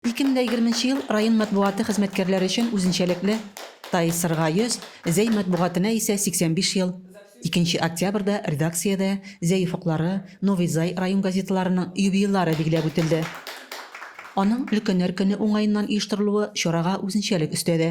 Ике мең дә егерменче ел район матбугаты хезмәткәрләре өчен үзенчәлекле, Тайсырга 100, Зәй матбугатына исә 85 ел. Икенче октябрьдә редакциядә Зәй офыклары, Новый Зай район газеталарының юбилейлары билгеләп үтелде. Аның Өлкәннәр көне уңаеннан оештырылуы чарага үзенчәлек өстәде.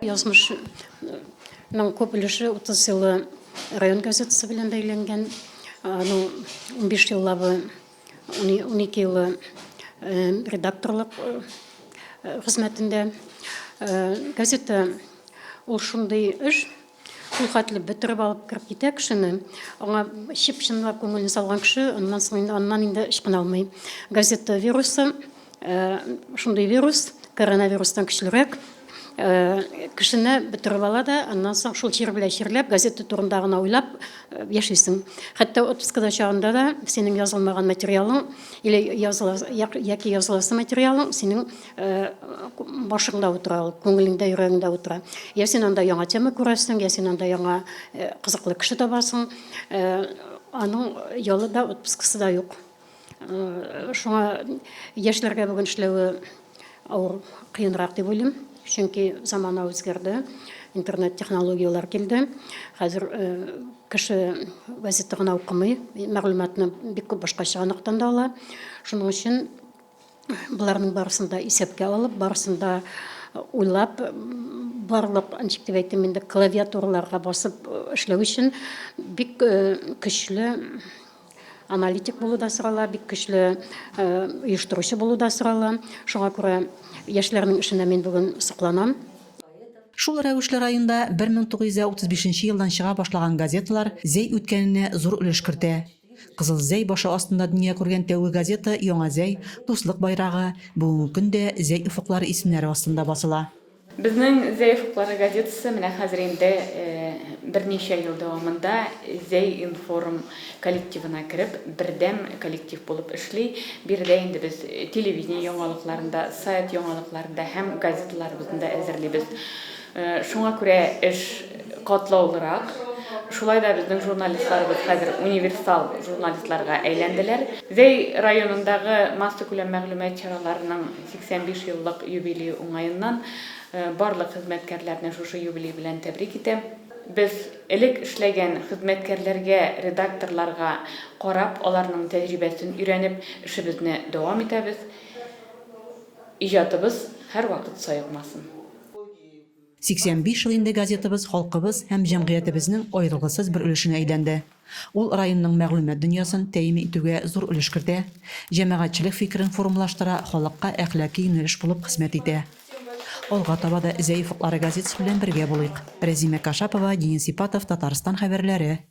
Язмышның күп өлеше утыз еллы район газетасы белән бәйләнгән. Аның унбиш еллавы, унике елы редакторлык хезмәтендә. Газета ул шундый эш, Шул хәтле бөтереп алып кереп китә кешене. Аңа чип чынлап күңелен салган кеше, аннан соң инде аннан инде ычкына алмый. Газета вирусы, э, шундый вирус, коронавирустан көчлерәк. Э, кешене бөтереп ала да, аннан соң шул чир белән чирләп, газета турында гына уйлап э, яшисең. Хәтта отпускада чагында да синең язылмаган материалың или языла яки языласы материалың синең Э, башыңда утыра ул күңелеңдә йөрәгеңдә утыра я син анда яңа тема күрәсең я син анда яңа э, кызыклы кеше табасың э, аның ялы да отпускасы да юк шуңа яшьләргә бүген эшләве авыр кыенрак дип уйлыйм чөнки замана үзгәрде интернет технологияләр килде хәзер кеше газета гына укымый мәгълүматны бик күп башкача ныктан да ала шуның өчен Боларның барысын да исәпкә алып, барысын да уйлап, барлык, ничек дип әйтим инде, клавиатураларга басып эшләү өчен бик көчле аналитик булу да сорала, бик көчле оештыручы булу да сорала. Шуңа күрә яшьләрнең эшенә мин бүген сокланам. Шул рәвешле районда 1935 елдан чыга башлаган газеталар Зәй үткәненә зур өлеш кертә. Кызыл Зәй башы астында дөнья күргән тәүге газета Яңа Зәй, Дуслык байрагы, бүгенге көн дә Зәй офыклары исемнәре астында басыла. Безнең Зәй офыклары газетасы менә хәзер инде берничә ел дәвамында Зәй-информ коллективына кереп, бердәм коллектив булып эшли. Биредә инде без телевидение яңалыкларын да, сайт яңалыкларын да һәм газеталарыбызны да әзерлибез. Шуңа күрә эш катлаулырак. Шулай да безнең журналистларыбыз хәзер универсал журналистларга әйләнделәр. Зәй районындагы массакүләм мәгълүмат чараларының 85 еллык юбилее уңаеннан барлык хезмәткәрләрне шушы юбилей белән тәбрик итәм. Без элек эшләгән хезмәткәрләргә, редакторларга карап, аларның тәҗрибәсен өйрәнеп, эшебезне дәвам итәбез. Иҗатыбыз һәрвакыт саекмасын! 85 ел инде газетабыз халкыбыз һәм җәмгыятебезнең аерылгысыз бер өлешенә әйләнде. Ул районның мәгълүмат дөньясын тәэмин итүгә зур өлеш кертә, җәмәгатьчелек фикерен формалаштыра, халыкка әхлаки юнәлеш булып хезмәт итә. Алга таба да Зәй офыклары газетасы белән бергә булыйк. Рәзимә Кашапова, Денис Ипатов, Татарстан хәбәрләре.